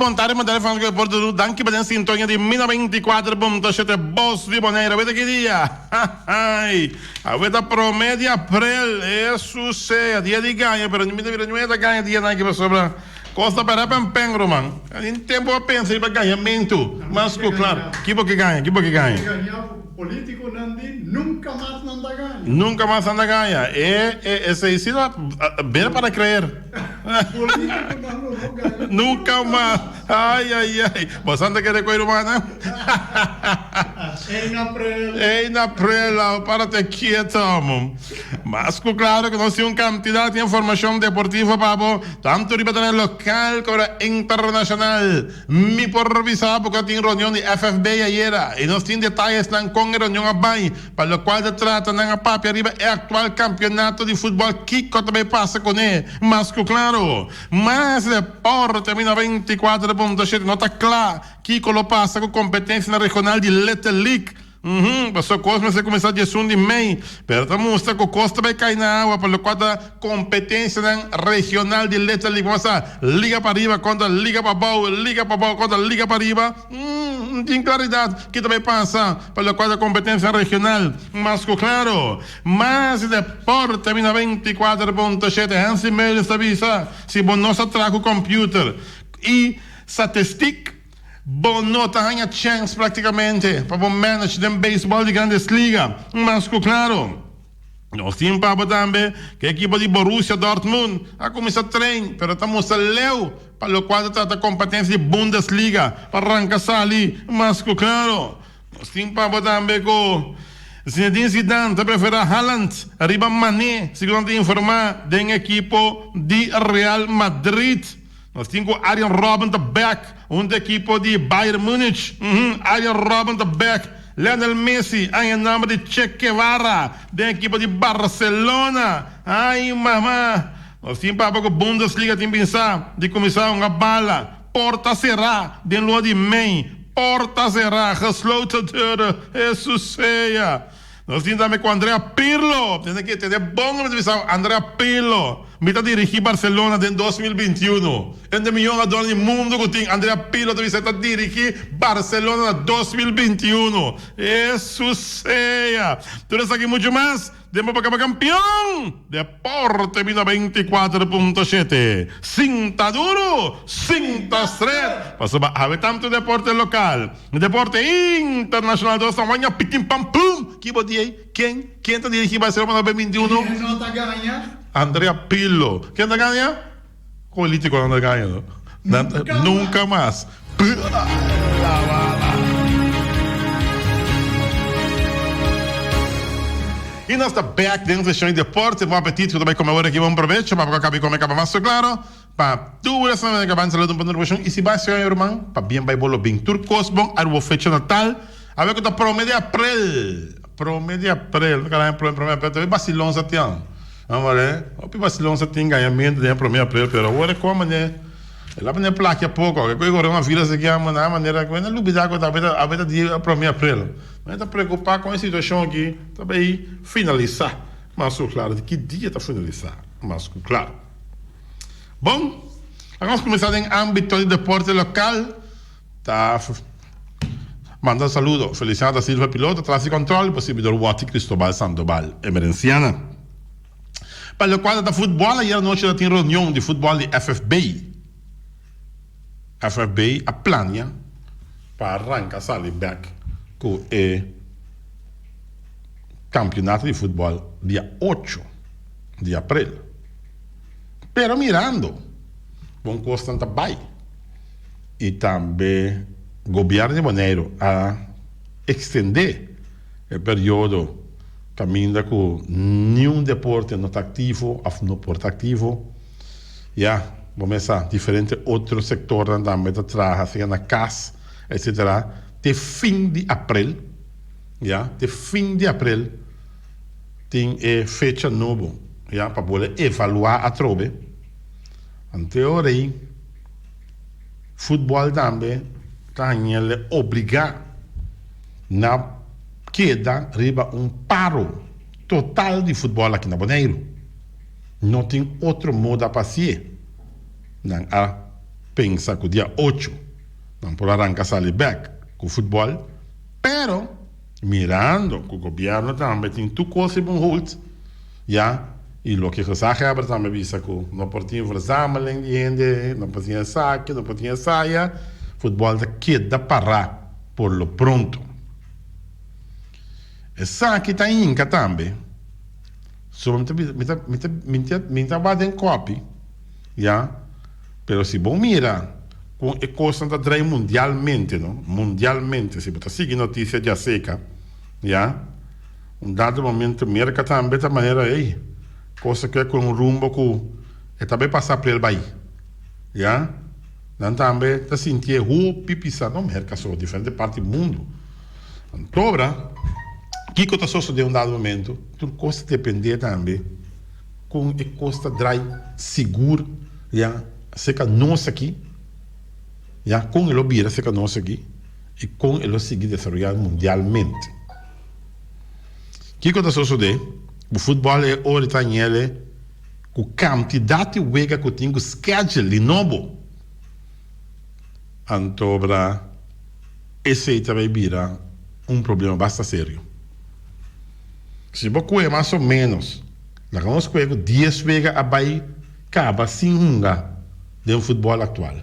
bon tarde, bon tarde fans de Porto Doel. Dank je bij den sintonia di Mina 24.7 Bos di Bonaire. Weet ik dia? A weet a prome di april. Eso sea. Dia di ganja, pero niet a vida niet a ganja dia na ki pasobra. Kos ta para pa mpen, ruman. Algin tempu a pensa riba gañamentu, mas ku klar, ki bo ke gaña? Ki bo ke gaña? Politikunan di nunka mas nan ta gaña. Nunka mas nan ta gaña. E, e, esei si ta bira para kreer. Politikunan lo no gaña. Nunka mas. Ai, ai, ai. Bo sa no ta kere koe rumannan? Ein aprel. Ein aprel al, para te kieto, amo. Mas ku klaro ku nos tin un kantidat di informashon deportivo pa bo, tantu riba tele lokal komo internashonal. Mi por bisa bo ku a tin reunion di FFB ayera i nos tin detayesnan kon e reunion a bai, pa lokual ta trata nan a papia riba e aktual kampionato di futbòl kiko ta bai pasa kuné. Mas ku klaro, Más Deporte mina veinticuatro punto siete no ta kla kiko lo pasa ku kompetensianan regional di Little League. Uhum, pasobra kos mester kuminsá di esun di mei, pero ta mustra ku kos ta bai kai na awa pa lokual ta kompetensianan regional di letra lingua masá, liga pa riba kontra liga pa bou, liga pa bou kontra liga pa riba. Uhum, no tin klaridat ke ta bai pasa pa lokual ta kompetensianan regional. Mas ku klaro, mas di deporte mina veinticuater punto shete Hansi Meulens ta bisa, si bo no sa traha ku kompiuter i satistik, Bo no ta haña chèns práktikamente pa bo manage den beisbòl di Grandes Liga. Mas ku klaro, nos tin paba tambe ku e ekipo di Borussia Dortmund a kuminsá tren, pero ta mustra leu pa lokual ta trata kompetensia di Bundesliga pa ranka sali. Mas ku klaro, nos tin paba tambe ku Zinedine Zidane ta preferá Haaland riba Mané, segun nan ta informá den ekipo di Real Madrid. Nos tin cu Arjen Robben ta back hunto e ekipo di Bayern Munich. Uhum, Arjen Robben ta back Lionel Messi a henamba di Che Guevara den ekipo di Barcelona. Ay mama! Nos tin papa cu Bundesliga tin binsa di cuminsa hunga bala porta cera den lua di mei. Porta cera, gesloten deuren. Jesusea! Nos tin tambe cu Andrea Pirlo. Tene que tene bon revisao Andrea Pirlo. Mi ta dirigi Barcelona den dos mil binti i unu. Un den miyon ador di mundo cu tin Andrea Pirlo ta bisa e ta dirigi Barcelona na dos mil binti i unu. Esu sea! Tur esaki mucho mas den bo pa caba campeon! Por termina beintikuater punto shete. Sinta duru, sinta stret, pasobra awe tantu deporte lokal ku deporte internashonal dos ta waña pikin pan pum! Ki bo di ei? Ken? Ken ta dirigí Barcelona na bemintunu? Andrea Pirlo, Ken ta gaña? Politiconan ta gana no. Nan ta gana. Nunca mas. Y nos ta back den seccion di deporte. Bon apetit cu ta bay come ora aki. Bon provecho pa bo cu a caba y come caba mas claro. Pa tur esnan cu ta caba ensalada un punto porcion. Y si bo a ciudad Yaruman pa bien bay bo lo bin. Tur cos bon a bo fecha natal. Awe cu ta prome di April. Prome di April. Bo ta cala aña prome di April. Awe vacilon sa tin. Amaré, hopi basilon sa tin gañamentu den e promé aprel, pero awor e kòm manera e la manera plaki a poko. Ke ku e goreon a vira esaki a maná manera ku e na lubidá ku ta a beta di e promé aprel. Mi ta preokupá kon e situashon akí ta bai finalisá mas ku klaru. Di ki dia ta finalisá mas ku klaru? Bon, a kuminsá den ámbito di depòrte lokal. Ta manda saludo Feliciano da Silva Piloto tras di control y posibidor Watty Cristobal Sandoval Emerenciana Pa locual ta ta futbol ayer anochi ta tin reunion di futbol di FFB FFB a plania pa ranca sali bek cu e campeonato di futbol dia ocho di april pero mirando bon cosnan ta bay. y tambe Gobierno di Boneiru a extende e periodo caminda cu niun deporte no ta activo of no por ta activo. Ya bo mesa diferente otro sectornan tambe ta traha sea na cas etc. Te fin di April, ya, te fin di April tin e fecha nobo, ya, pa bole evalua atrobe. Anteo rey. Futbòl tambe ta hañ'el obligá na keda riba un paro total di futbòl aki na Boneiru. No tin otro moda pa hasié, nan a pensa ku dia ocho nan por a ranka sali bèk ku futbòl, pero mirando ku gobièrnu tambe tin tur kos riba un hold, Ya, i loke Gesaha Heber tambe a bisa ku no por tin verzameling di hende, no por tin esaki, no por tin esaya, futbòl ta keda pará por lo pronto. Esaki ta hinka tambe, so mi ta bisa, mi ta, mi ta, mi ta, mi ta wak den kòpi, ya, pero si bo mira kon e kosnan ta drai mundialmente, no, mundialmente, si bo ta sigui notisia djaseka, ya. Un dado momento Merka tambe ta manera ey, cosa cu e coge un rumbo cu e ta bay pasa p'el bay. Ya, nan tambe ta sinti e hopi pisa, no Merka so, diferente parti di mundo. Antobra, kico ta sosode un dado momento? Tur cos ta depende tambe con e cos ta draai sigur, ya, acerca nos aki, ya, con e lo bira acerca nos aki y con e lo sigui desaroya mundialmente. Kiko ta sosode ku futbòl e ora ta ñele ku kantidat di wega ku tin ku skèdjel di nobo, antobra esei ta bay bira un problema basta serio. Si bo kue mas o ménos laga nos kue ku dies wega a bay kaba sin hunga den futbòl aktual.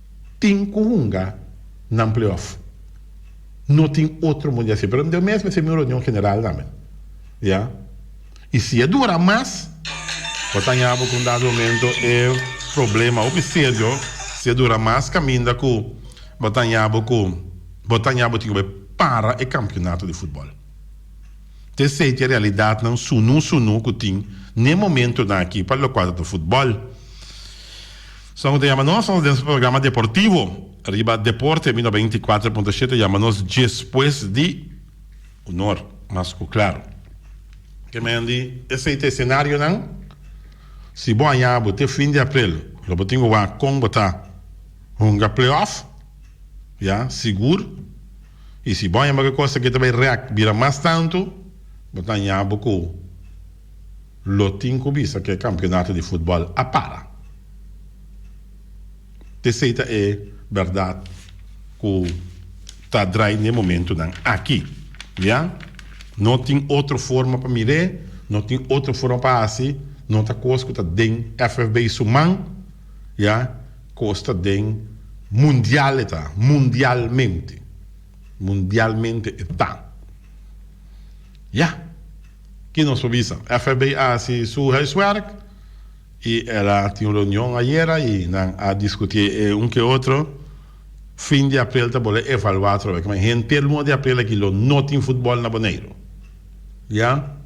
Tin cu hunga nan playoff. No tin otro mundia así. Pero deo mes me hacé mi reunión general tambe. Ya. Y si a dura mas, bo ta haña bo cu un dado momento e problema hopi serio, si a dura mas caminda cu bo ta haña bo cu bo ta haña bo tin cu bo e para e campeonato di futbol. Ta esey ta e realidadnan sunu sunu cu tin n'e momentonan aki pa locual ta ta futbol. Sa ku ta yama nos nos den su programa deportivo riba Deporte mi noventa i kuater punto shete yama nos Djespues di Hunor mas ku Claro. Ke men di esei ta esenarionan. Si bo a yabo te fin di aprel lo bo tin ku wak kon bo ta hunga playoff ya sigur i si bo a yama ke kos aki ta bai rèk bira mas tantu bo ta yabo ku. Lo tin ku bisa ku e kampionato di futbòl a para. P'esei ta e bèrdat ku ta drai n'e momentunan aki. Ya. No tin otro forma pa mir'é, no tin otro forma pa hasi, no ta kos ku ta den FFB su man, ya, kos ta den mundial e ta, mundialmente, mundialmente e ta. Ya. Ki nos por bisa? FBI a hasi su huiswerk i el a tin un reunion ayera i nan a diskutí e un ku e otro. Fin di aprel ta bolbe evaluá otro bes. Kima? Henter luna di aprel aki lo no tin futbòl na Boneiru. Ya?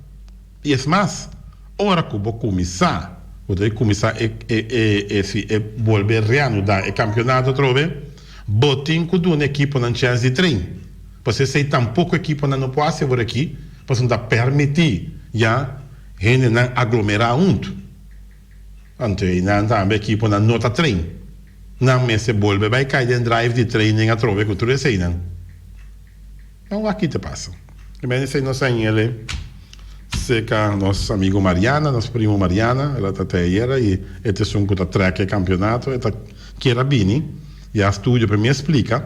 I es mas, ora ku bo kuminsá, bo ta di kuminsá e e si e bolbe reanudá e kampionato atrobe, bo tin ku duna e ekiponan chèns di train. Pasobra esei tampoko e ekiponan no por hasi aworakí pasobra ta permití ya hendenan aglomerá huntu. Anto einan tambe e ekiponan no ta train. Nan mester bolbe bai kai den drive di training atrobe ku tur eseinan. Nan wak-i ta pasa. E mene sei nos angele serka nos amigu Mariana, nos primu Mariana. El a ta te ayera i e ta esun ku ta trèk e kampionato. E ta kier a bini ya studio pa mi a splika.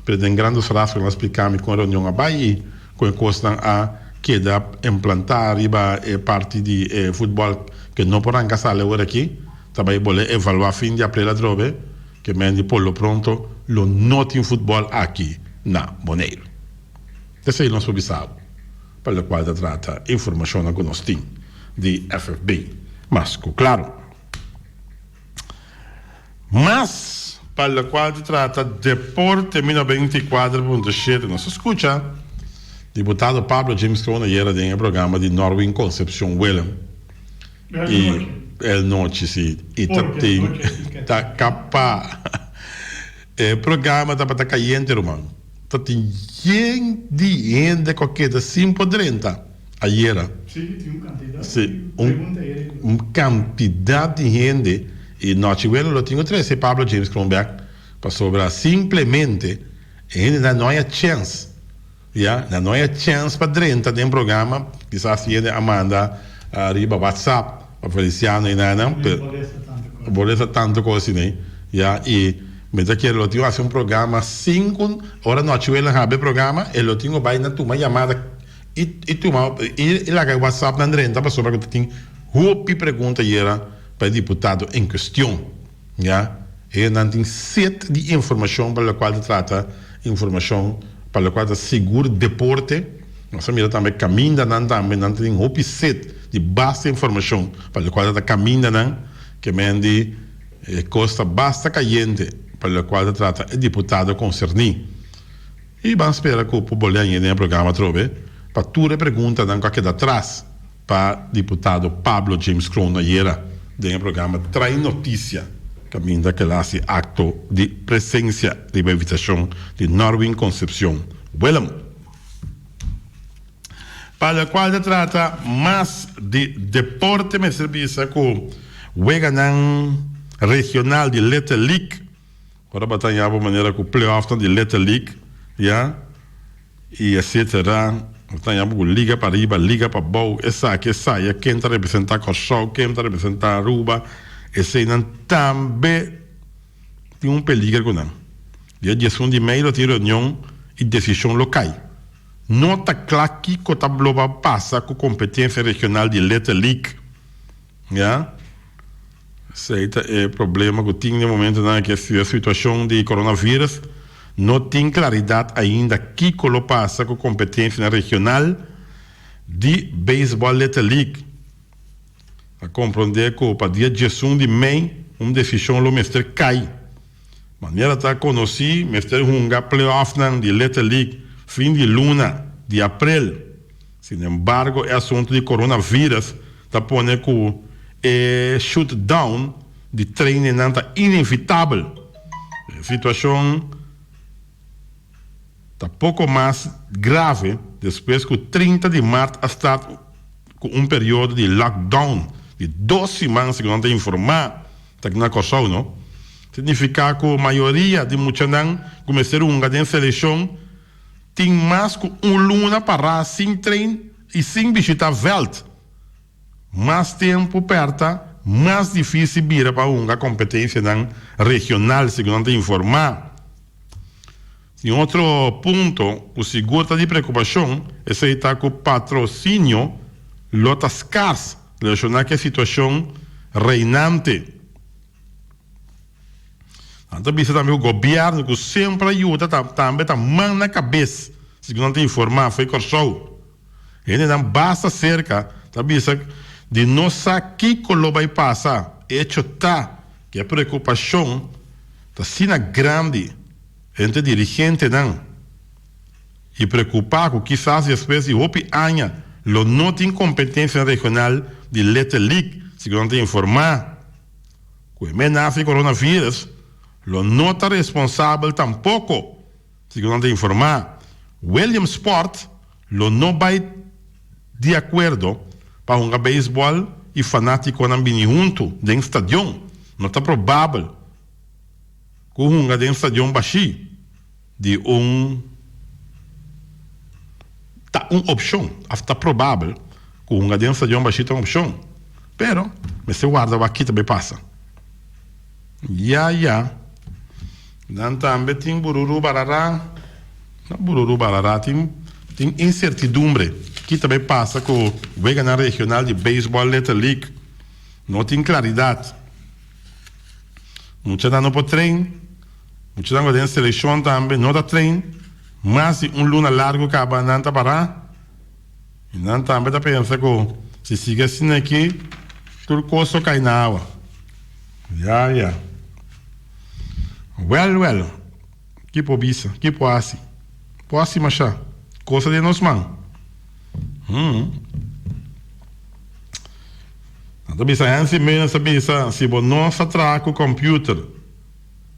President Grandos Rafael a spliká mi kon reunion a bai i kon e kosnan a keda emplantá riba e parti di e futbòl ke no por ranka sali awor aki, ta bai bol'e evaluá fin di aprel atrobe, ke men di por lo pronto lo no tin futbòl aki na Boneiru. Esei nos por bisau, pa lo kual ta trata e informashonnan ku nos tin di FFB mas ku klaru. Mas pa lo cual ta trata deporte mi no ben tin cuadro pa punto shete nos a scucha Diputado Pablo James Corona yera den e programa di Norwin Concepcion Willem y el nochi si y ta tin ta capa e programa tabata cayente ruman ta tin yen di hende cu a keda sin por drenta. Ayera si un cantidad di hende y nochi wele lo tin cu trece Pablo James Kronberg pasobra simplemente e hende nan no haya chens ya nan no haya chens pa drenta den programa kisas e hende a manda riba WhatsApp pa Feliciano y naina no bolesta tanto cosa asiney ya y me ta kere lo tin cu haci un programa sin cu ora nochi wele a haber programa e lo tin cu bay na tuma llamada. I tuma i laga e whatsapp nan renta pasobra ku ta tin hopi pregunta yera pa e diputado en kuestion ya e nan tin set di informashon pa lokual ta trata informashon pa lokual ta sigur deporte nos a mira tambe kaminda nan tambe nan ta tin hopi set di basta informashon pa lokual ta ta kaminda nan ke men di e kos ta basta kayente pa lokual ta trata e diputado konserni. I ban spera ku por bolia yende na programa atrobe pa tur e preguntanan ku a keda atras pa diputado Pablo James Kroon ayera den e programa Trae Noticia, kaminda ku el a hasi akto di presensia riba invitashon di Norwin Concepcion Willem, pa la kual ta trata mas di deporte mester bisa ku weganan regional di Letelic Ora bo a taña bo manera ku pleofnan di Little League, ya, i esetera, bo a taña bo ku liga pa riba, liga pa bou, esaki, esaya, ken ta representá Kòrsou, ken ta representá Aruba, eseinan tambe tin un peliger ku nan. Dia diesun di mei lo tin reunion i desishon lo kai. No ta kla kiko ta lo ba pasa ku kompetensia regional di Little League. Ya. Esei ta e problema cu tin den momentonan aki a studia situacion di coronavirus. No tin claridad ainda kico lo pasa cu competencianan regional di Baseball Little League. A comprende cu pa dia diesun di mei un decision lo mester cay. Manera ta conoci mester hunga playoffnan di Little League fin di luna di april. Sin embargo e asuntu di coronavirus ta pone cu e shoot down di trainenan ta inevitabel. E situacion ta poco mas grave despues cu trinta di maart a start cu un periodo di lockdown di dos siman segun nan ta informa ta aki na Corsou no. Significa cu mayoria di muchanan cu mester hunga den seleccion. Tin mas ku un luna pa ras sin trein i sin bishita veld. Mas tempu pèrta, mas difísil bira pa hunga kompetensianan regional, segun nan ta informá. Un otro punto ku sigur ta di preokupashon esei ta ku patrosinio lo ta skars relashoná ku e situashon reinante. Nan ta bisa tambe ku gobièrnu ku semper a yuda ta tambe ta man na kabes, segun nan ta informá fo'i Kòrsou. Hendenan basta serka ta bisa di no sa kiko lo bai pasa, echo ta ku e preokupashon ta asina grandi entre dirigentenan i preokupá ku kisas despues di hopi aña lo no tin kompetensianan regional di Letterlijk, segun nan ta informá. Ku e menas di coronavirus lo no ta responsabel tampoko, segun nan ta informá, Williamsport lo no bai di akuerdo pa hunga beisbòl i fanátikonan bini huntu den stadion. No ta probabel ku hunga den stadion bashí. di un ta un opshon òf ta probabel ku hunga den stadion bashi ta un opshon pero mester warda wak kita bai pasa ya ya nan tambe tin bururu barara no bururu barara tin tin insertidumbre kita bai pasa ku weganan regional di beisbòl leta lig no tin klaridat mucha nan no por train. Muchanan ku den selekshon tambe no ta train, mas di un luna largu kaba nan ta pará i nan tambe ta pensa ku si sigui asina aki tur kos lo kai na awa. Ya, ya. Wèl, wèl, ki por bisa? Ki por hasi? Por hasi mashá kosa den nos man? Hm. Nan ta bisa Hansi Meulen sa bisa si bo no sa traha ku kòmpiuter.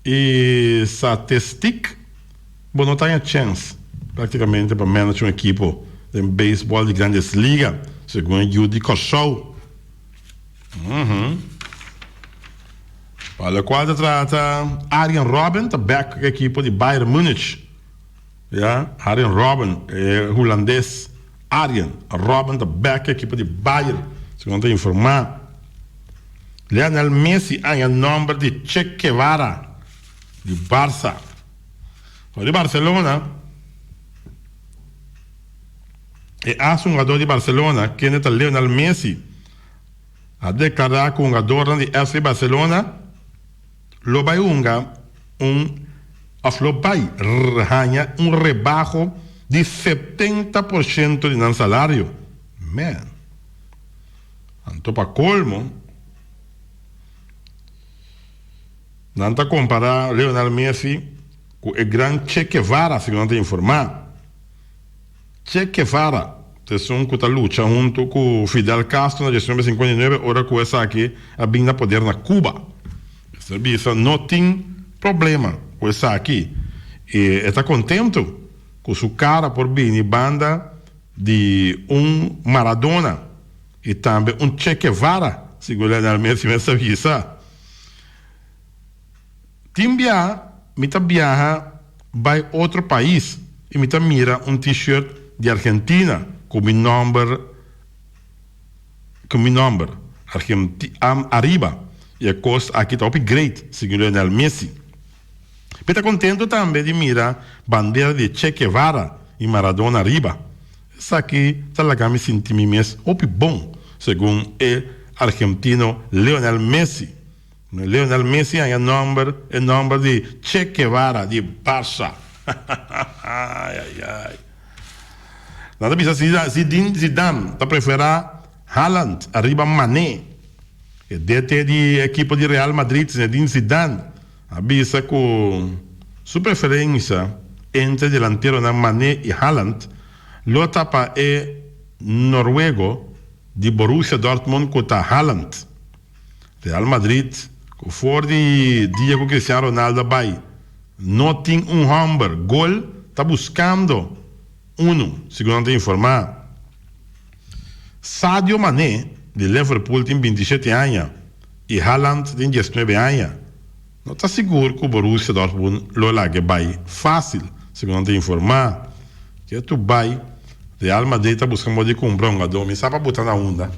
E satistic, Bo no ta haña chens practicamente pa manage un equipo den baseball di Grandes Liga, segun e yu di Kòrsou. Pa locual ta trata, Arjen Robben ta back equipo di Bayern Munich. Ya, Arjen Robben, e hulandes Arjen Robben ta bek e ekipo di Bayer, segun ta informá. Lionel Messi a haña nòmber di Che Guevara di Barça. For di Barcelona, e as un hugador di Barcelona, kende ta Lionel Messi, a deklará ku hungadornan di FC Barcelona, Lo bai hunga un òf lo bai haña un rebaho di setenta por shento di nan salario. Mèn. Anto pa kolmo, nan ta kompará Lionel Messi ku e gran Che Kevara, segun nan ta informá. Che Guevara, esun ku ta lucha huntu ku Fidel Castro na diecinuebe sinkuenta i nuebe ora ku esaki a bin na poder na Cuba. Esei ta bisa no tin problema ku esaki i e ta kontentu ku su kara por bini banda di un Maradona i tambe un Che Guevara, segun Lionel Messi mester bisa. Tin bia mi ta biaha bai otro pais y mi ta mira un T-shirt di Argentina cu mi nomber cu mi nomber Argentinam ariba y e cos aki ta hopi great segun Lionel Messi. Mi ta contento tambe di mira bandera di Che Guevara y Maradona ariba. Esaki ta laga mi sinti mi mes hopi bon segun e Argentino Lionel Messi Lionel Messi a haña nòmber, e nòmber di Che Guevara di Barça. Ayayay. Nan ta bisa si Zinedine Zidane ta preferá Haaland ariba Mané. E DT di e ekipo di Real Madrid, Zinedine Zidane, a bisa ku su preferensia entre e delanteronan Mané i Haaland lo ta pa e noruego di Borussia Dortmund ku ta Haaland. Real Madrid, cu for di dia cu Cristiano Ronaldo a bay, no tin un homber gol, ta buscando unu, segun nan ta informa. Sadio Mané di Liverpool tin binti shete aña y Haaland tin diesnuebe aña. No ta sigur ku Borussia Dortmund lo laga bai fásil. Segun nan ta informá, ke tur bai Real Madrid ta buska modi kumpra un hugadó. Mi sa pa bo ta na unda,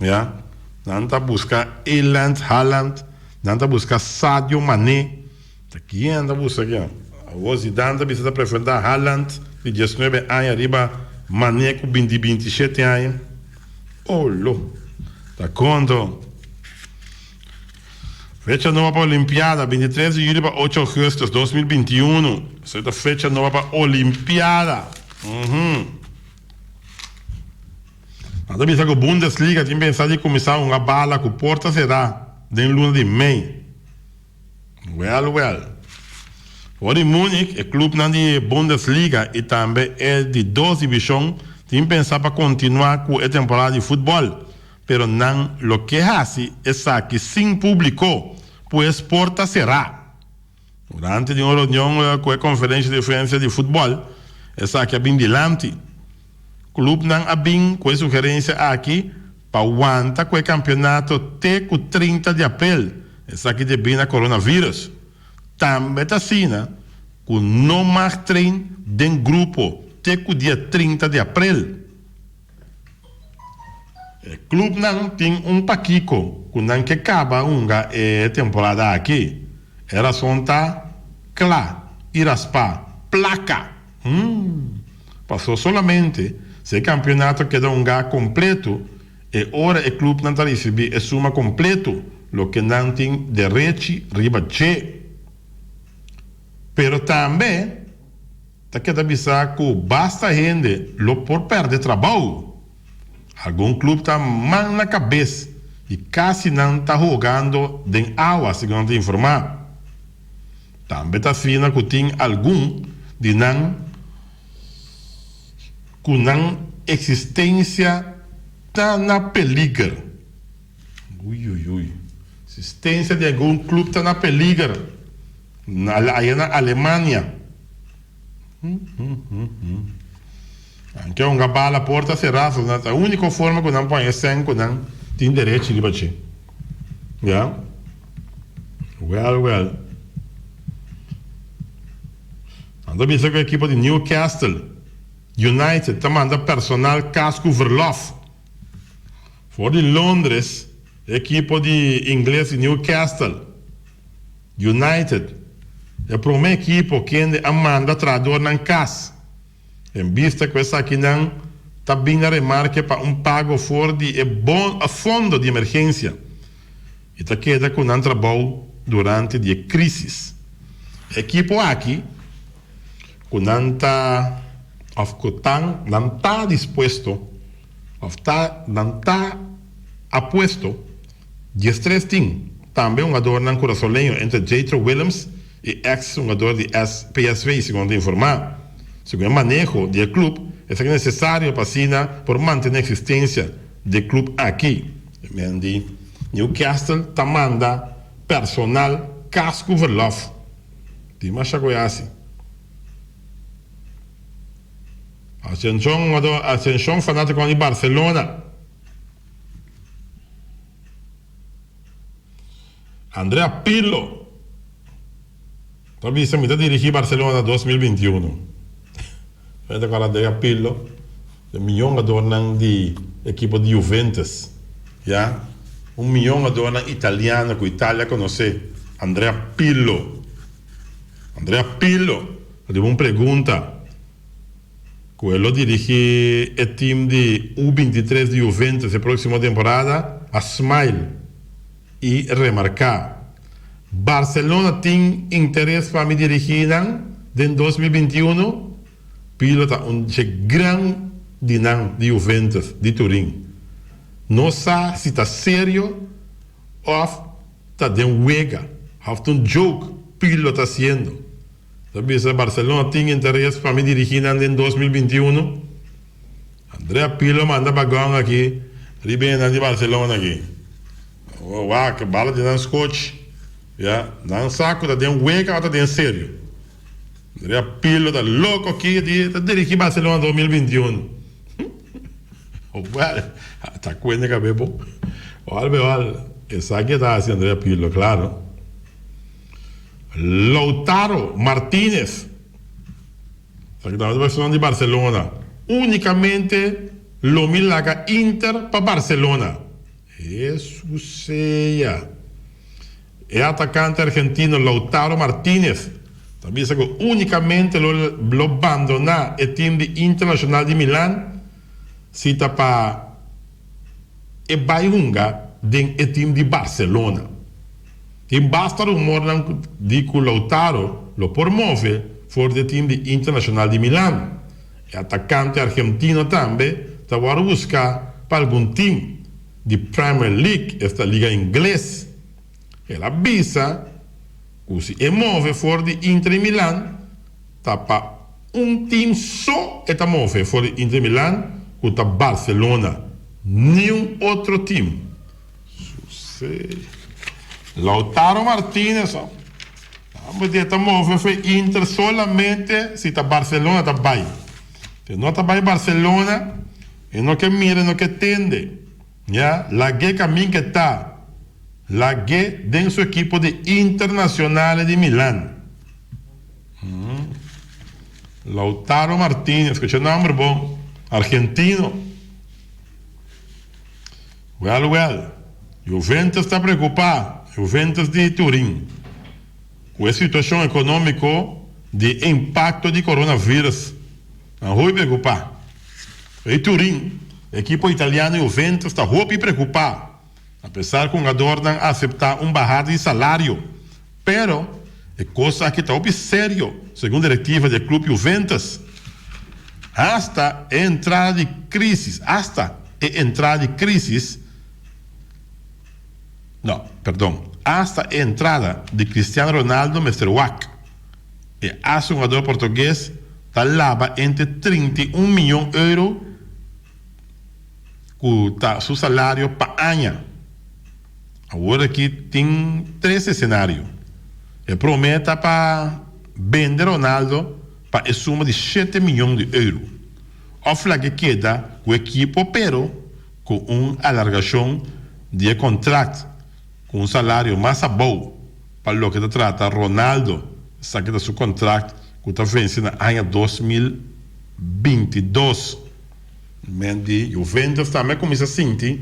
ya. Nan ta buska Erland Haaland, nan ta buska Sadio Mané. Ta kien nan ta buska ke? Awor Zidane ta bisa ta prefentá Haaland di diesnuebe aña riba Mané ku bin di binti shete aña. Oh lo! Ta kondo. Fecha noba pa Olimpiada, bintitres di yuli pa ocho augustus, dos mil binti i unu. Esei ta fecha noba pa Olimpiada. Nan ta bisa ku Bundesliga tin pensá di kuminsá hunga bala ku porta será den luna di mei. Wèl, wèl. For di Múnich, e klubnan di e Bundesliga i tambe e di dos divishon tin pensá pa kontinuá ku e temporada di futbòl. Pero nan lo ke hasi esaki sin públiko, pues por ta será. Durante di un reunion ku e konferensha di frensia di futbòl, esaki a bin dilanti. Klubnan a bin ku e sugerensia aki pa wanta ku e kampionato te ku trinta di aprel, esaki debí na coronavirus. Tambe ta asina ku no mag trein den grupo te ku dia trinta di aprel. E klubnan tin un pakiko ku nan ke kaba hunga e temporada aki. E rason ta kla i raspá, plaka! Paso solamente si e kampionato keda hunga kompleto e ora e klubnan ta risibí e suma kompleto loke nan tin derechi riba dje. Pero tambe. Ta keda bisa ku basta hende lo por pèrdè trabou. Algun klub ta man na kabes i kasi nan ta hogando den awa, segun nan ta informá. Tambe ta fina ku tin algun di nan ku nan eksistensia ta na peliger. Uiuiui. Sistensia di algun club ta na peliger. Aya na Alemania. Anke honga bala porta sera so nan ta unico forma cu nan por haña sèn cu nan tin derechi riba dje. Ya. Well well. Nan ta bisa cu ekipo di Newcastle United ta manda personal cas cu verlof. For di Londres, e ekipo di ingles di Newcastle United, e prome ekipo kende a manda traadornan kas, en bista ku esakinan ta bin na remarke pa un pago for di e fondo di emergensia i ta keda ku nan trabou durante di e krisis. E ekipo aki. ku nan ta òf ku tan nan ta dispuesto òf ta nan ta apuesto dies tres tin tambe hungadornan kurasoleño entre Jethro Willems i eks hungador di PSV segun ta informá segun e maneho di e klub esaki nesesario pa asina por mantené eksistensia di e klub aki e men di Newcastle ta manda personal kas ku verlof. Tin masha ku e hasi. Asenshon fanatikonan di Barcelona. Andrea Pirlo ta bisa mi ta dirigi Barcelona dos mil binti unu. E mion hadornan di ekipo di Juventus, ya. Un mion hadornan italiano ku Italia konosé, Andrea Pirlo. Andrea Pirlo a riba un pregunta ku e lo dirigí e tim di U bintitres di Juventus e próksimo temporada, a smile i remarká, Barcelona tin interes pa mi dirigí nan den dos mil binti unu. Pila ta un dje gran di nan di Juventus di Turin. No sa si ta serio of ta den wega, of ta un joke Pirlo ta haciendo. Ta bisa Barcelona tin interes pa mi dirigi nan den dos mil binti uno? Andrea Pirlo manda bagon aki riba e nan di Barcelona aki. Wak bala di nan scochi. Ya, nan sa cu ta den wega of ta den serio. Rapilo ta loco aki di e ta dirigi Barcelona dos mil binti un o wel ta cuende cab'e bo ol be ol esaki e ta haci Andrea Pirlo claro Lautaro Martinez ta keda nos persona di Barcelona unicamente lo mi laga Inter pa Barcelona. Hesus sea! E atakante argentino Lautaro Martinez ta bisa cu unicamente lo bandona e team di Internacional di Milan si ta pa e bay hunga den e team di Barcelona. Tin basta rumornan di cu Lautaro lo por move for di e team di Internacional di Milan. E atakante argentino tambe ta wòrdu buská pa algun tim di Premier League, esta liga ingles. El a bisa ku si e move for di Inter di Milan, ta pa un tim so e ta move for di Inter di Milan, ku ta Barcelona, niun otro tim. Lautaro Martinez. Amba di e ta move fu e Inter solamente si ta Barcelona ta bai. Si no ta bai Barcelona e no ke mira e no ke tende. Ya lag'é kamin ke ta lag'é den su ekipo di Internazionale di Milan. Lautaro Martinez, skucha e nòmber bo, argentino. Wèl wèl, Juventus ta preokupá, Juventus di Turin, ku e situashon ekonómiko di e impakto di koronavirus. Nan hopi preokupá. Rei Turin, ekipo italiano Juventus ta hopi preokupá, apesar ku hungadornan a aseptá un bahada di salario. Pero, e kos aki ta hopi serio, segun direktiva di e klub Juventus. Hasta e entrada di krisis, hasta e entrada di krisis, no, perdon, hasta e entrada di Cristiano Ronaldo mester wak. E asungador portugues ta laba entre trinta i un miyon euro. ku ta su salario pa aña. Awor aki tin tres esenario. E promé ta pa bende Ronaldo pa e suma di shete miñon di euro òf lag'e keda ku ekipo pero ku un alargashon di e kontrakt ku un salario mas abou pa loke ta trata Ronaldo sa ke ta su kontrakt ku ta vense na aña dos mil binti dos. Mén di Juventus tambe a kuminsá sinti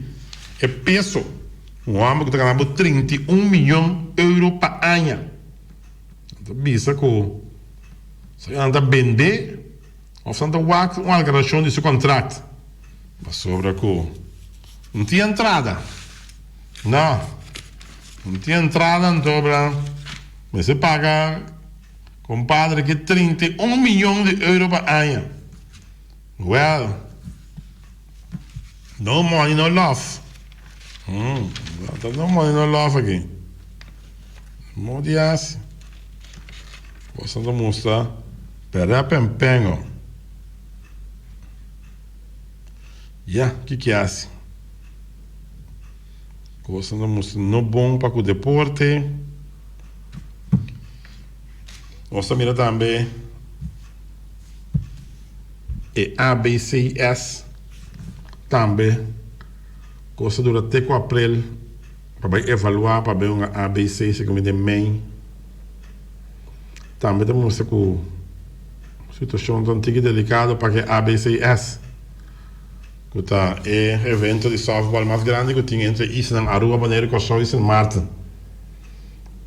e peso. Un hòmber ku ta gana bo trinta i un miyon euro pa aña ta bisa ku esnan ta bend'é òf esnan ta wak un algarashon di su kontrakt pasobra ku no tin entrada. No tin entrada anto bra mester paga kompadre aki trinta i un miyon di euro pa aña. Well, no money no love. Hm, ta no money no love aki. Mo di hasi. Boso ta musta perep empengo. Ya, ki ki hasi? Kosa ta musta no bon pa ku deporte. Nos ta mira tambe e ABCS tambe cu nos ta dura te cu aprel pa bay evalua pa bay un ABC si cu mi den mei tambe ta mustra cu situacion ta un tiki delicado pa ke ABCS cu ta e evento di softball mas grandi cu tin entre isla Aruba, Bonaire, Curaçao y Sint Maarten.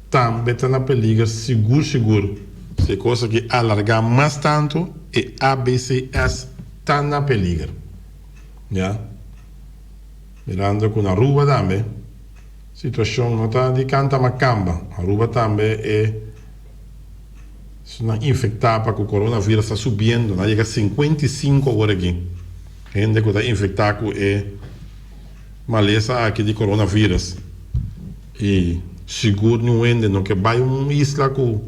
tambe ta na peliger sigur sigur. Si e cosa ke alarga mas tanto e ABCS ta na peliger. Ya. Mirando cu na Aruba tambe situacion no ta di canta ma camba. Aruba tambe e personanan infecta pa cu coronavirus ta subiendo, na yega cincuenta y cinco awor aki hende cu ta infecta cu e malesa aki di coronavirus. I sigur ni un hende no ke bai un isla ku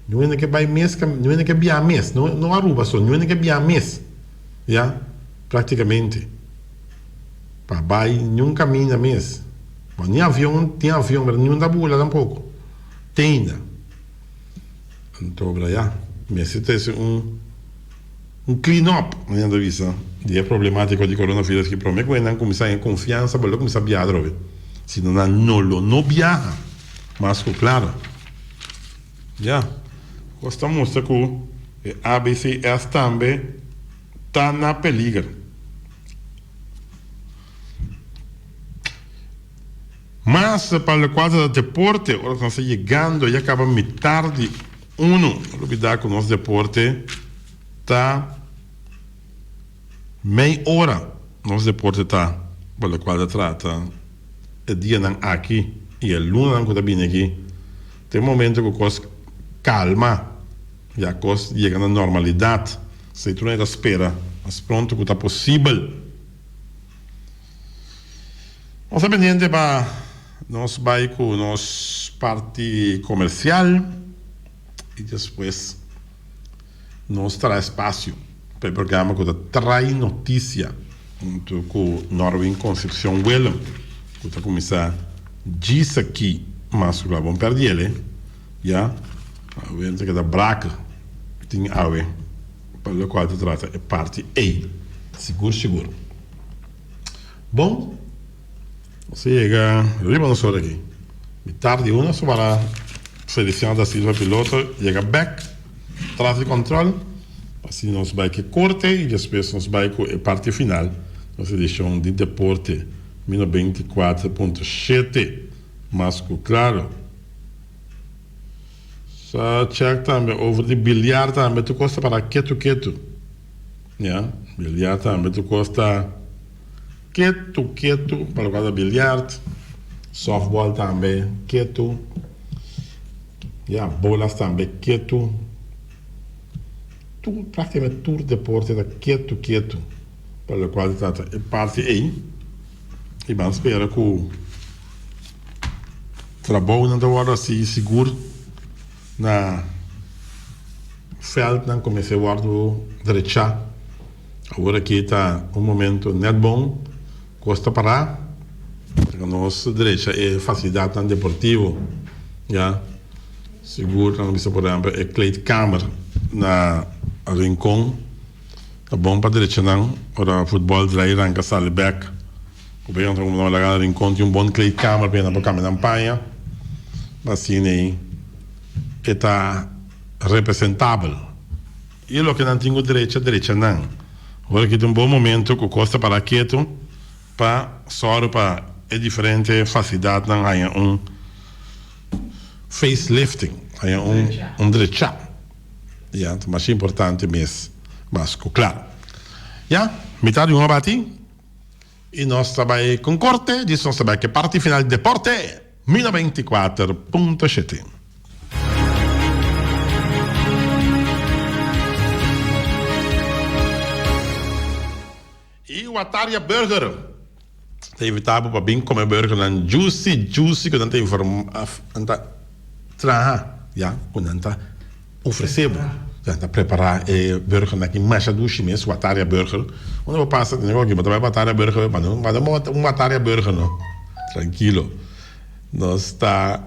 ni un hende ke bai mes ka ni un hende ke biaha mes no no Aruba so ni un hende ke biaha mes ya praktikamente pa bai ni un kaminda mes bo ni avion tin avion pero niun ta bula tampoko teinda anto ya mester trese un. Un clean up, manera nan ta bisa, di e problemática di coronavirus ki promé cu esnan cuminsá haya confiansa pa lo cuminsá biaha atrobe. Sino nan no lo no biaha mas cu clara. Ya, cos ta mustra cu e ABCS tambe ta na peliger. Mas pa locual ta deporte, ora cu nan sa yegando ya caba mitar di Unu a lubidá ku nos deporte ta mei ora. Nos deporte ta pa lokual ta trata e dianan aki i e lunanan ku ta bini aki. Ta e momento ku kos kalma, ya kos yega na normalidat. Esei tur nan e ta spera mas pronto ku ta posibel. Nos a bini hende ba nos bai ku nos parti komersial i despues nos traha spasio pa e programa ku ta trai notisia huntu ku Norwin Concepcion Willem ku ta kuminsá djis aki mas ku kla bon pèrdí el e ya Willem ta keda braka tin awe pa lokual ta trata e parti ei sigur sigur. Bon, se yega riba nos ora aki. Mi tardi una so para Feliciano da Silva Piloto yega bek tras di control. Asina nos bai cu e corte y despues nos bai cu e parti final nos edicion di Deporte mi noventa y cuatro punto shete. Mas cu claro. Sa check tambe over di biliar tambe tur cos ta para ketu ketu. Ya, biliar tambe tu kos ta ketu ketu pa loke a ta biliart, softball tambe ketu, ya bolas tambe ketu, tur praktikamente tur deporte ta ketu ketu pa lo kual ta trata e parti ei i ban spera ku trabounan ta wòrdu a sigui sigur. Na veldnan kumes'é wòrdu drechá. Awor aki ta un momentu nèt bon ku os ta pará pa nos drecha e fasilidatnan deportivo. Ya sigur nan a bisa por ehempel e kleedkamer na Rincon ta bon pa drechanan ora futbòl draai ranka sali bèk. Ku bey otro hombrenan laga na rincon tin un bon kleedkamer pa e nan por cambia nan paña pa asina ey e ta representabel y loke nan tin cu drecha drecha nan. Ora aki ta un bon momento cu cos ta para ketu pa sor pa e diferente facilidadnan haya un face lifting, haya un drecha ya ta masha importante mes mas cu cla ya. Mitad di un abati. Y nos ta bay con corte, djis nos ta bay ke parti final di deporte, mi noventa y kuater punto shete. Y Wataria Burger ta invita bo pa bin come burger nan juicy juicy cu nan ta informa, nan ta traha ya cu nan ta. ofresé bo. Nan ta prepará e burger nan ki masha dushi mes, wataria burger. Unda bo pasa ta oki bo ta bai wataria burger, manda un manda un wataria burger no. Trankilo. Nos ta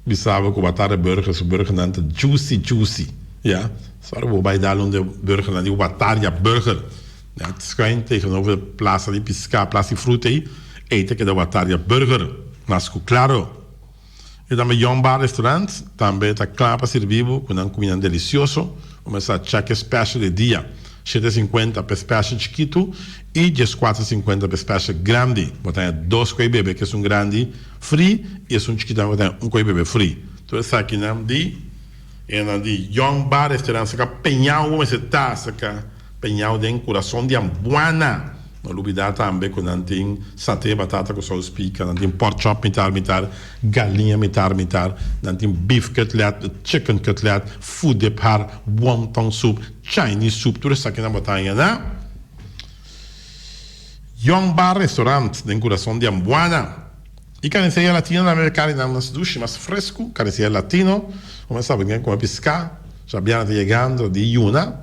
bisa bo ku wataria burger su burger nan ta jusi jusi, ya. So ora bo bai dal un di burger nan di wataria burger, ya, ta skon tegenover e plasa di piská, plasa di fruta ei, ei ta keda wataria burger, mas ku klaro. E tambe Young Bar Restaurant tambe ta kla pa sirbi bo ku nan kumindanan delisioso, komensá cheque special e dia, shete sinkuenta p'e special chikitu i dieskuater sinkuenta p'e special grandi. Bo ta haña dos koi bebe ku esun grandi fri i esun chikitu tambe bo ta haña un koi bebe fri. Tur esakinan di e nan di Young Bar Restaurant sa ka peña bo mester ta, sa ka. Peñao den kurason di Ambuana. No lubidá tambe ku nan tin saté batata ku sous pika, nan tin pork chop mitar mitar, galiña mitar mitar, nan tin beef cutlet, chicken cutlet, food de par, wonton soup, Chinese soup, tur esaki nan bo ta haña na Young Bar Restaurant den kurason di Ambuana. E carniceria latino na merká di nan mas dushi, mas fresku, carniceria latino, bo mester a bini a kome piská, Shabiana ta yegando di yuna.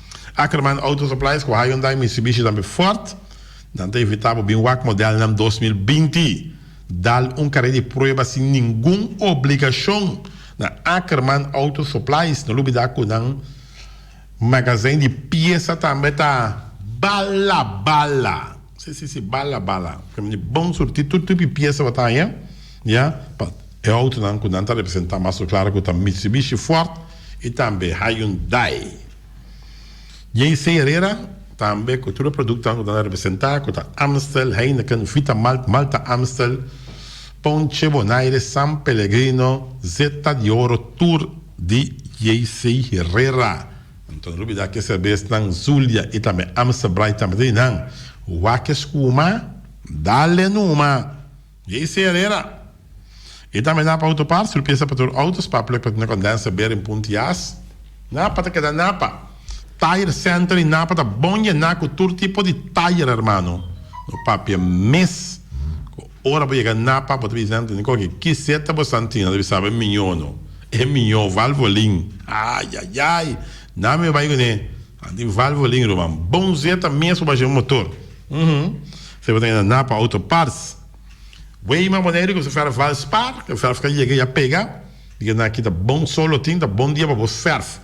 Ackerman Auto Supplies cu Hyundai Mitsubishi tambe Ford nan ta invita bo bin wak modelnan dos mil binti. Dal un car'é di prueba sin ningun obligacion na Ackerman Auto Supplies. No lubida cu nan magazijn di pieza tambe ta bala bala. Sí sí sí bala bala. Bon surti tur tipo di pieza bo ta haña. Mia pa e outonan cu nan ta representa mas lo clara cu ta Mitsubishi, Ford y tambe Hyundai. JC Herrera tambe cu tur e productonan cu nan a representa cu ta Amstel, Heineken, Vita Malt, Malta Amstel, Ponche Bonaire, San Pellegrino, Zeta di Oro tur di JC Herrera. Anto no lubida cu e cerbesnan Zulia y tambe Amstel Bright tambe ta di nan. Wak e scuma, dale numa! JC. Herrera. E ta mendá pa Autoparts tur piesa pa tur outo, spark plug pa tende condenser, bearing, punt i as. Napa ta keda napa. Tire center i napa ta bon yena ku tur tipo di tire hermano. No papia mes ku ora bo yega napa bo ta bisa nan tende koke kiseta bo santina ta bisa bo miño no. E miño, valvolin. Ayayay! Nan mi bai kuné. An tin valvolin ruman. Bon zeta mes pa basha un motor. Uhmm. Sey bo ta keda na pa auto parts. Weima Boneiru ku su ferf Valspar, ku ferf ka yega ya pega, di keda aki ta bon sol lo tin, ta bon dia pa bo ferf.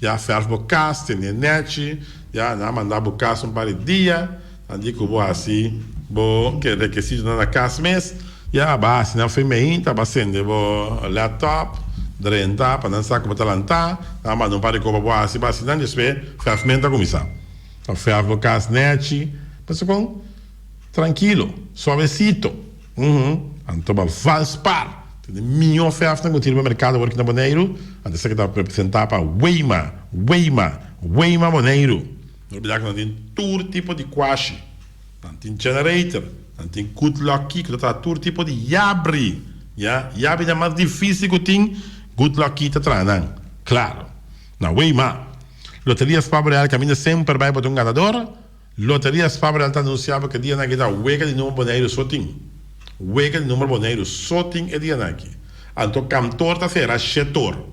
Ya ferf bo kas, tene nechi, ya nan a manda bo kas un par di dia. Anji ku bo hasi bo keda ke sitionan na kas mes? Ya, aba hasi nan fe meinta, aba sende bo laptop, drenta pa nan sa ku bo ta lanta, nan manda un par di koba bo hasi, aba hasi nan despues fèf men ta kuminsá. Aba fèf bo kas nèchi, pasa kon? Trankilo, suavesito, uhum, anto aba vals par ta den mihó fèf nan ku tiri bo merkado awor aki na Boneiru, anto esaki ta representá pa Weima, Weima, Weima Boneiru. No bida ku nan tin tur tipo di kuashi. Nan tin generator, nan tin good lucky ku ta traha tur tipo di yabri, ya. Yabri nan mas difisil ku tin, good lucky ta traha nan. Klaro. Na wei ma. Loteria Spabo Real kaminda semper bai bota un ganador. Loteria Spabo Real ta anunsiá bo ku e dianaki ta wega di number Boneiru so tin. Wega di number Boneiru so tin e dianaki. Anto kantor ta sera shetor.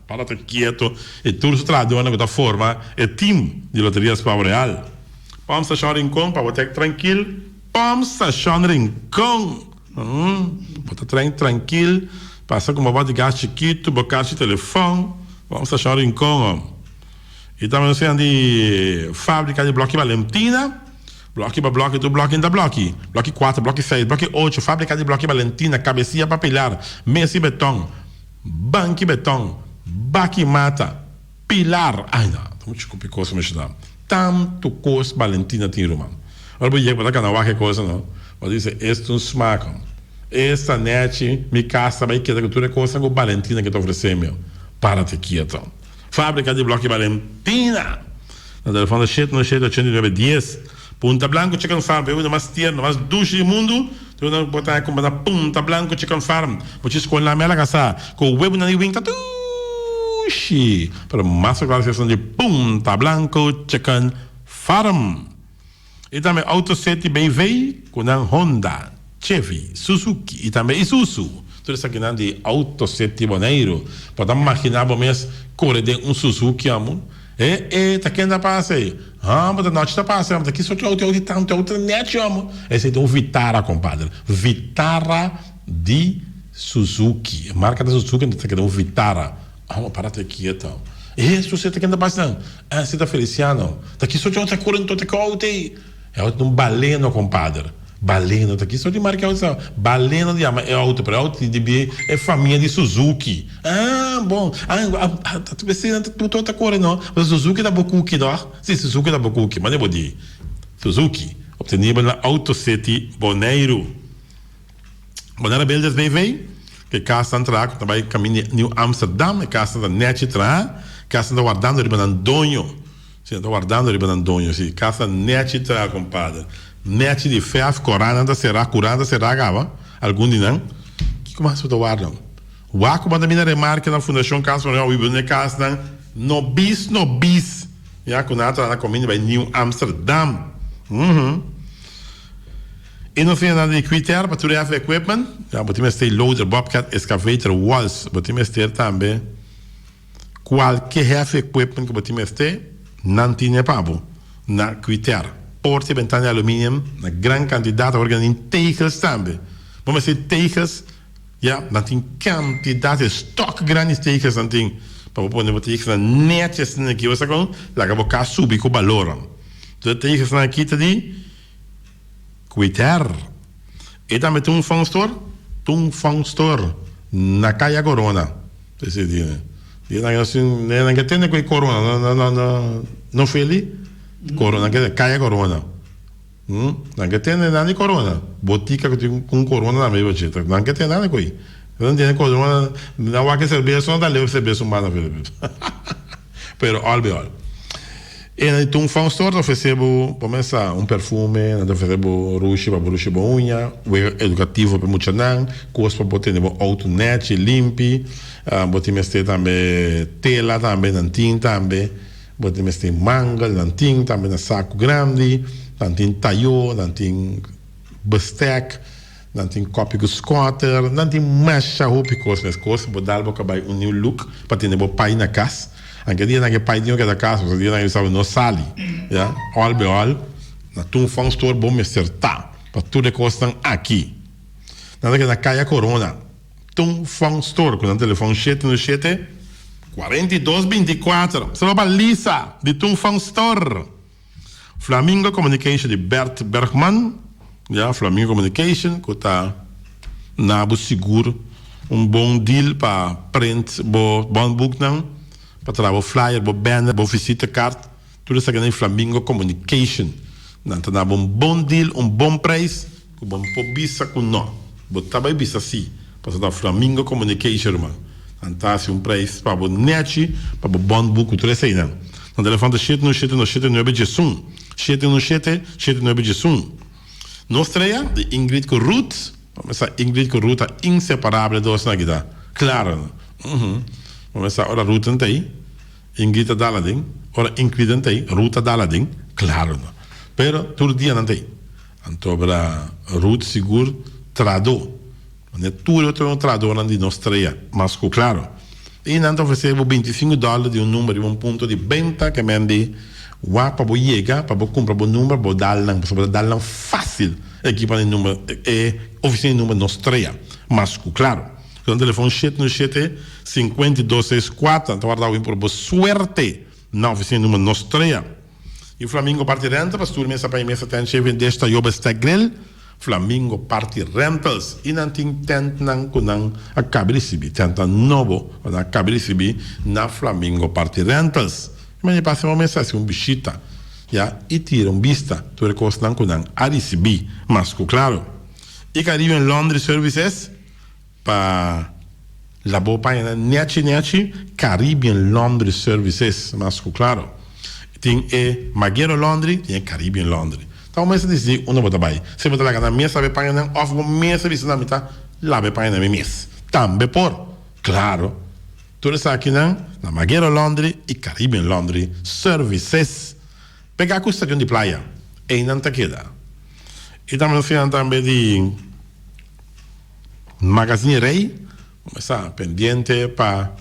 Pablo ta kieto i tur su trahadónan ku ta forma e tim di Loterias Pavo Real. Pòmp Stashon Rinkon, pa bo trèk trankil Pòmp Stashon Rinkon! Bo ta trèk trankil pa sa ku bo bòt di gas chikitu, bo karchi telefòn. Pòmp Stashon Rinkon oh! I tambe nos siña di fábrika di blòki Balentina. Blòki pa blòki, tur blòki nta blòki. Blòki kuater, blòki seis, blòki ocho, fábrika di blòki Balentina, kabesia pa pilar, mes i betòn. Banki beton, baki mata, pilar, ay na, ta mucha kupi kos mesha ta, tantu kos Balentina tin ruman. Ora bo yek bo ta kana wak e kosa no, bo ta bisa esto un smaakon, esta nechi mi kas ta bai keda ku tur e kosnan ku Balentina ke ta ofresemio, para te kieto. Fábrika di Blòk i Balentina. Na telefòn ta sheta, no sheta, ochenta i nuebe dies. Punta Blanku Chicken Farm, e unda mas tierno, mas dushi di mundu. Ta e unda ku bo ta haña kumpa na Punta Blanku Chicken Farm. Bo chi skolnan mester a kasá ku webunan di wing ta dushi, pero mas popular si esun di Punta Blanku Chicken Farm. E tambe auto seti bay vey cu nan Honda, Chevy, Suzuki y tambe Isuzu. Tur esakinan di auto seti Boneiru. Bo ta magina bo mes core den un Suzuki amo? E e ta ken ta pasa ey? Haa bo ta nochi ta pasa amo ta ki sochi auto di tanto auto ta nechi amo? Esey ta un Vitara compadre. Vitara di Suzuki. E marca ta Suzuki entonces ta keda un Vitara. Amo para ta kieto. E Hesus e ta kende bas nan. Ese ta Feliciano. Ta kis ocho ta kore nto te kout ey. E auto ta un baleno, kompader. Baleno ta kis. Di marka e auto sa? Baleno ta yama e auto, pero e auto tin debie e famia di Suzuki. Ah, bon. Ah, ta p'esei nan ta ocho ta kore no. Pasobra Suzuki ta bo kuki no. Si, Suzuki ta bo kuki. Mane bo di. Suzuki obteniba na Auto City, Boneiru. Banda Rebeldes BV, ku e kasnan traha ku ta bai kamin di Niu Amsterdam. E kasnan ta nèchi traha. E kasnan ta wardando riba nan doño. Si, nan ta wardando riba nan doño. Si, e kas ta nèchi traha, kompader. Nèchi di fèf. Koranan ta será. Kuranan ta será kaba, algun di nan. Kiko mas bo ta warda? Waku banda mi na remarka na Fundashon Kas Manuel Awi Bruno e kasnan nobis nobis, ya, ku nan a traha na komin di bai Niu Amsterdam. Ùhù. E no fina nada di Quitear pa tur heavy equipment. Ya bo tin mester loader, bobcat, excavator, walls. Bo tin mester tambe cualke heavy equipment cu bo tin mester. Nan tine pa bo na Quitear. Porta y bentana di aluminium na gran cantidad. Awor kende tin tegels tambe. Bo mester tegels, ya. Nan tin cantidad, e stock grandi di tegels nan tin pa bo pone bo tegels nan netjes esaki. Bo sa con? Laga bo cas subi cu baloran. Entonces e tegels nan aki ta di. Twitter. E tambe ta un fun store? Ta un fun store na Caya Corona. P'esei di e nan ke e nan ke tende ku e corona no feli, corona ke Caya Corona. Nan ke tende nan di corona, botica ku tin un corona tambe bo chita. Nan ke tende nan ku ei. Nan tende corona, nan wak e cerbeso nan ta leu cerbeso mas na Filipino. Pero al biol. E nan di tin un fau stor ta ofresé bo, pa mesa, un perfume, nan ta ofresé bo rushi pa bo rushi bo uña, wega edukativo pa muchanan, kos pa bo tene bo outo nèchi, limpi. Bo tin mester tambe tela tambe, nan tin tambe. Bo tin mester mangel, nan tin tambe na saku grandi. Nan tin tayó, nan tin bistèk. Nan tin kopi ku skòter, nan tin masha hopi kos. Mes kos bo dal bo ka bai un niu luk pa tene bo pai na kas. Anke dia nan ke pai tin ku keda kas, otro dia nan yu sa bo no sali. Ya, òl be òl, na Tungfang Store bo mester ta, pa tur e kosnan aki. Nan ta keda na Kaya Korona, Tungfang Store, ku nan telefòn shete uno shete, kuarenta i dos binti kuater. Solo pa Lisa, di Tungfang Store. Flamingo Communication di Bert Bergman, ya, Flamingo Communication cu ta na bo sigur un bon deal pa print bo bondboeknan, pa traha bo flyer, bo banner, bo visitekaart, tur esaki nan di Flamingo Communication. Nan ta na bo un bon deal, un bon prijs. Ku bo por bisa ku no. Bo ta bai bisa sí, pasobra ta Flamingo Communication ruman. Nan ta hasi un preis pa bo nechi pa bo bònt bu ku tur eseinan. Nan ta levanta shete un shete no shete nuebe djesun, shete un shete shete nuebe djesun. Nos trea, di Ingrid ku Ruth, pa mesa Ingrid ku Ruth ta inseparable dos nan kita klaro no. Uhu. Pa mesa ora Ruth nan ta ei, Ingrid ta dal aden, ora Ingrid nan ta ei, Ruth ta dal aden, klaro no. Pero tur dia nan ta ei. Anto a bira Ruth sigur trado. Manera tur e otro tradonan di nos traia. Mas ku klaro. I nan ta ofresé bo bintisingu dòler di un number riba un punto di benta ku e men di wak pa bo yega pa bo kumpra bo number pa bo dal nan. Pasobra dal nan fásil e ekipan di number e ofisina di number nos traia. Mas ku klaro. Ku nan telefòn shete uno shete sinkuenta i dos seis kuater nan ta warda awin por bo suerte nan ofisina di number nos traia. Yu Flamingo Party Rental pa stur mesa pa e mesa tent Chevian Dish ta Jobe Steg Grill, Flamingo Party Rentals y nan tin tent nan cu nan a cabe ricibi, tentnan nobo cu nan a cabe ricibi na Flamingo Party Rentals. E manera pa haci un mesa haci un bishita ya y tira un bista tur e cosnan cu nan a ricibi mas cu claro. Y caribe en laundry services Pa la bo paña nan nechi nechi Caribbean Laundry Services mas ku klaro tin e Magero Laundry tin e Caribbean Laundry ta bo mester disidi unda bo ta bai si bo ta laga nan mes laba e paña nan òf bo mester bisa nan mi ta laba e paña nan mi mes tambe por klaro tur esakinan na Magero Laundry i Caribbean Laundry Services pega ku stadion di playa ei nan ta keda i ta mensiona tambe di. Magazine Rey mester ta pendiente pa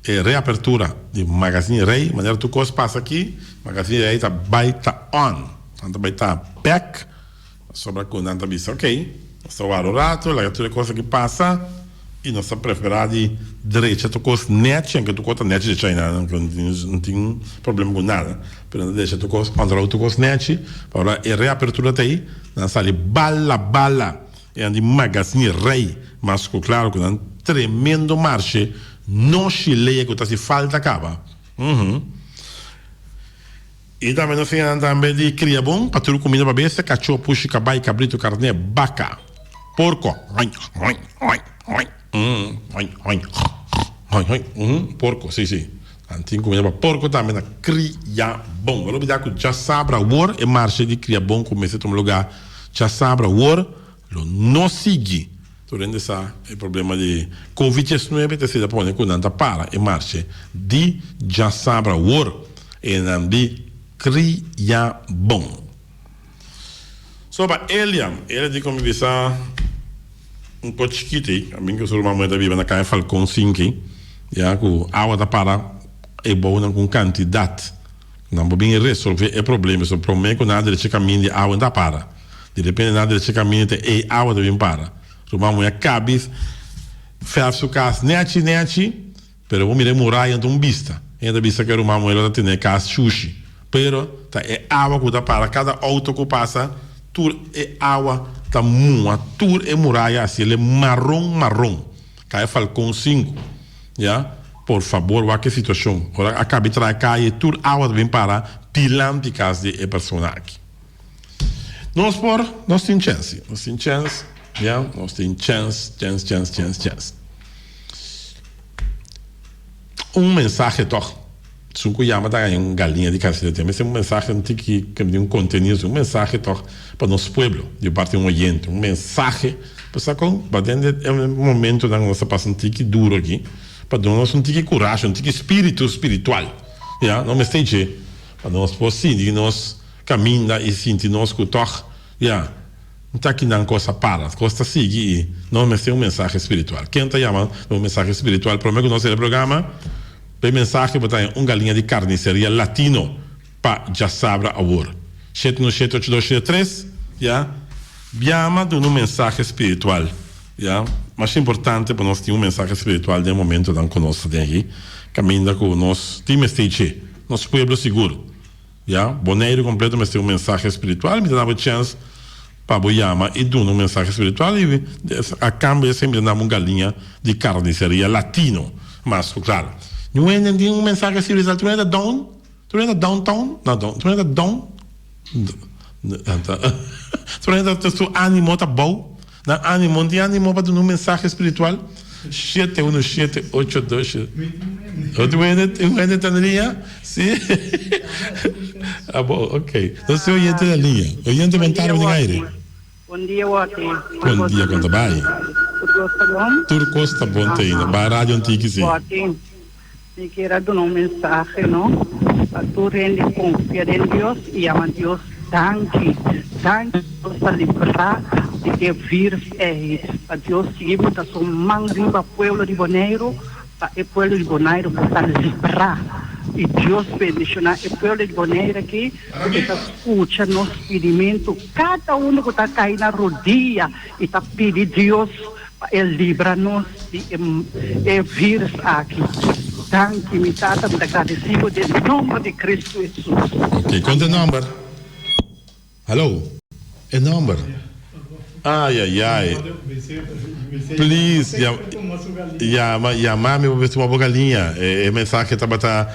e reapertura di Magazine Rey manera tur cos pasa aki Magazine Rey ta bay ta on nan ta bay ta back pasobra cu nan ta bisa ok nos ta wara un rato laga tur e cos aki pasa y nos ta prefera di drecha tur cos nechi aunke tur cos ta nechi drecha ayi nan no no tin problema cu nada pero nan ta drecha tur cos controlo tur cos nechi ora e reapertura ta ayi nan sali bala bala. Nan di Magazine Rey mas ku klaro ku nan tremendo marshe no shileya ku ta si falta kaba. I tambe nos siña nan tambe di kria bon pa tur kumida pa bestia, kachó, pushi, kabai, kabritu, karné, baka, porko. Porco si si nan tin comida pa porco tambe na cria bon lo bida cu dja sabra awor e marcha di cria bon cu mester tuma lugar dja sabra awor lo no sigui tur hende sa e problema di covid diecinuebe ta asina pone cu nan ta para e marcha di dja sabra awor e nan di cria bon. So ba Eliam, el a di con mi bisa, Un poco chikiti, a mi cu su ruman moe ta biba na Caña Falcon sinki, ya cu awa ta para e bounan cu un cantidad, cu nan por bini a resolve e problema. So prome cu nan a drecha e camin di awa, e ta para. Di repente nan a drecha e camin te ey awa ta bin para. Ruman moe a cabi ferf su cas nechi nechi. Pero bo mira e muraya enta un bista. Enta ta bista ku e ruman Muela ta tene e kas shushi. Pero ta e awa ku ta para kada outo ku pasa, tur e awa ta muha tur e muraya a hasiel e maron maron. Kaya Falkon sinku. Ya. Por fabor wak e situashon. Ora a kabe traha e kaye tur awa ta bin para dilanti kas di e persona aki. Nos por, nos tin chènsi. Nos tin chèns, ya. Nos tin chèns, chèns, chèns, chèns, chèns. Un mensahe tòg. Su ku yama ta haña un galiña di karcera te mester un mensahe, un tiki ke bini un kontenido su. Un mensahe tòg pa nos pueblo di parti un oyente. Un mensahe pasobra kon ta den e momentunan ku nos ta pasa un tiki duru aki pa duna nos un tiki kurashi, un tiki spiritu spiritual, ya. Nos mester dje pa nos por sintí nos Caminda y sinti nos cu toch, ya, no ta aki nan cos a para, cos ta sigui y nos mester un mensahe spiritual. Ken ta yaman na un mensahe spiritual? Prome cu nos hera e programa, pa e mensahe bo ta den un galiña di carniceria latino pa dja sabra awor. Shete uno shete ocho dos shete tres. Ya, biama duna un mensahe spiritual, ya, mas importante pa nos tin un mensahe spiritual den e momentonan cu nos ta den aki, caminda cu nos tin mester dje nos pueblo sigur, Ya, Boneiru completo mester un mensahe spiritual, mi ta nabo chance pa bo yama y duna un mensahe spiritual y a cambio esey mi ta nabo un galiña di carniceria latino, mas cu claro. Ni un hende tin un mensahe spiritual tu mira ta down? Tu mira ta down town? No down, tu mira ta down? Tu mira ta su animo ta bou? Nan animo, di animo pa duna un mensahe spiritual, shete uno shete ocho doshe. Ot wene tin wene ta na liña? Si? Abo ok. Nos tin oyente na liña. Oyente bon tardi den aire. Bon dia Wati. Bon dia konta bai. Tur kos ta bon. Tur kos ta bon ta ina. Bai radio un tiki si. Wati. Mi kier a duna un mensahe no pa tur hende, konfia den Dios i yama Dios danki, danki Dios pa librá di e virus ei, pa Dios sigui bota su man riba pueblo di Boneiru pa e pueblo di Boneiru por ta librá i Dios bendishoná e pueblo di Boneiru aki ku ta skucha nos pidimentu, kada unu ku ta kai na rodia i ta pidi Dios. Pa el libra nos di e virs aki. Danki mi Tata, mi ta gradisí Bo den nòmber di Kristu Hesus. Oké, konta e nòmber? Haló? E nòmber? Ayayay. Please, yama, yama mi pa mester wak boka liña. E mensahe tabata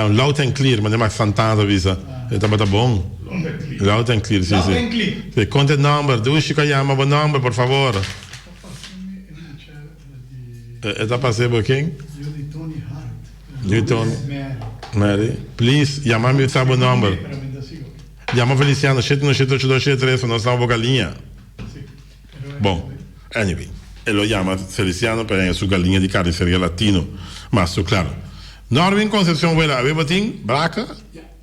loud and clear, manera Max Santana ta bisa. E tabata bon. Loud and clear, si, si. Konta e nòmber? Dushi ku a yama bo nòmber, por favor. E ta pasé bo ken? Yo di Tony Hart. Yo di Mary. Please yama mi sa bo number. Yama Feliciano shete uno shete ocho dos shete tres pa nos taba boca liña. Bon anyway e lo yama Feliciano pa henga su galiña di carniceria Latino mas su claro. Norvin Concepcion Wela a ver bo tin braca?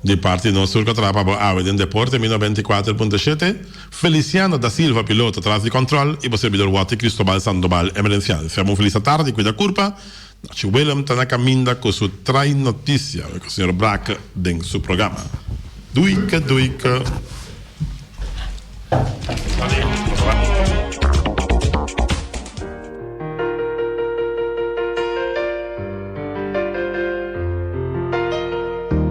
Di parti nos tur ka trapa bo awe den Deporte mi nobenta i kuater punto shete, Feliciano da Silva piloto tras di control i bo serbidor Watty Cristobal Sandoval emerenciancia. Bon felisa tardi cuida curpa. Nachi Willem ta na caminda cu su trae noticia cu señor Braak den su programa. Duike duike.